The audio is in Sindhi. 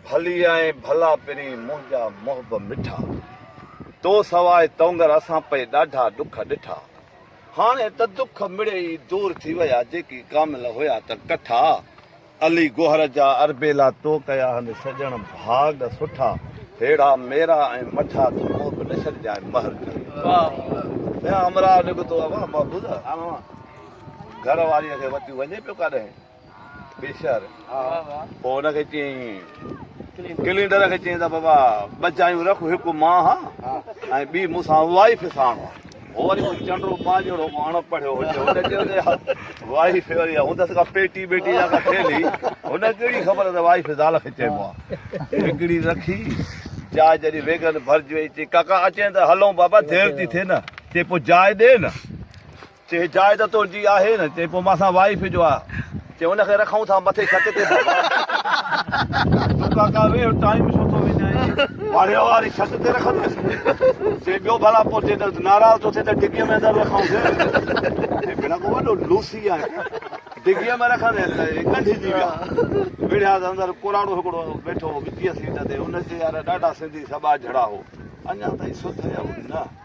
ڀلي آئين ڀلا پرين منهنجا محب مٺا تو سواء تونگر اسان پئي ڏاڍا ڏک ڏٺا هاڻي ته دک مڙئي ئي دور ٿي ويا جيڪي ڪامل هيا ته ڪٺا علي گوهر جا اربيلا تو ڪيا هن سڄڻ ڀاڳ سٺا ههڙا ميرا ۽ مٺا تو محب نه ڇڏجانء مهر ڪري ٻيا همراهه نڪتو اوهان محبوبه گهر واريء کي وتيون وڃي پيو ڪاڏهين. بيشر پوء ان کي چيائين، ڪلينڊر کي چيائين ته بابا ٻه جايون رک، هڪ مان هان ۽ ٻي مون سان وائي فساڻ هان. هو وري ڪو چنڊو مان جهڙو ڪو اڻ پڙهيو هجي، هن چيو ته يار وائي في وري هوندس ڪا پيٽي ٻيٽي يا ڪا ٿيلهي، هن ڪهڙي خبر ته وائي في زال کي چئبو آهي. هڪڙي رکي، جاء جڏهن ويڳن ڀرجي وئي، چيائين ڪاڪا اچين ته هلون بابا دير ٿي ٿئي نه، چيائين پوء جاء ڏي نه. چي جاء ته تنهنجي آهي نه. چي پوء مان سان وائيف جو آ. چي ان کي رکون ٿا مٿي ڇت تي بابا. تون ڪاڪا ويهه ٽائيم ڇو ٿو وڃائين. پاڙي واري ڇت تي رکنداسين. چي ٻيو ڀلا پوء جي ناراض ٿو ٿئي ته ڊگهي ۾ اندر رکون سين. چي ڀيڻا ڪو وڏو لوسي آهي ڊگهي ۾ رکندين ته هي ڳنڍجي ويا. وڙهيا ته اندر ڪوراڙو هڪڙو ويٺو هو ڳچيء سيٽ تي. ان چي يار ڏاڍا سنڌي سٻاجهڙا هو. اڃا تائين سڌ هيا نه.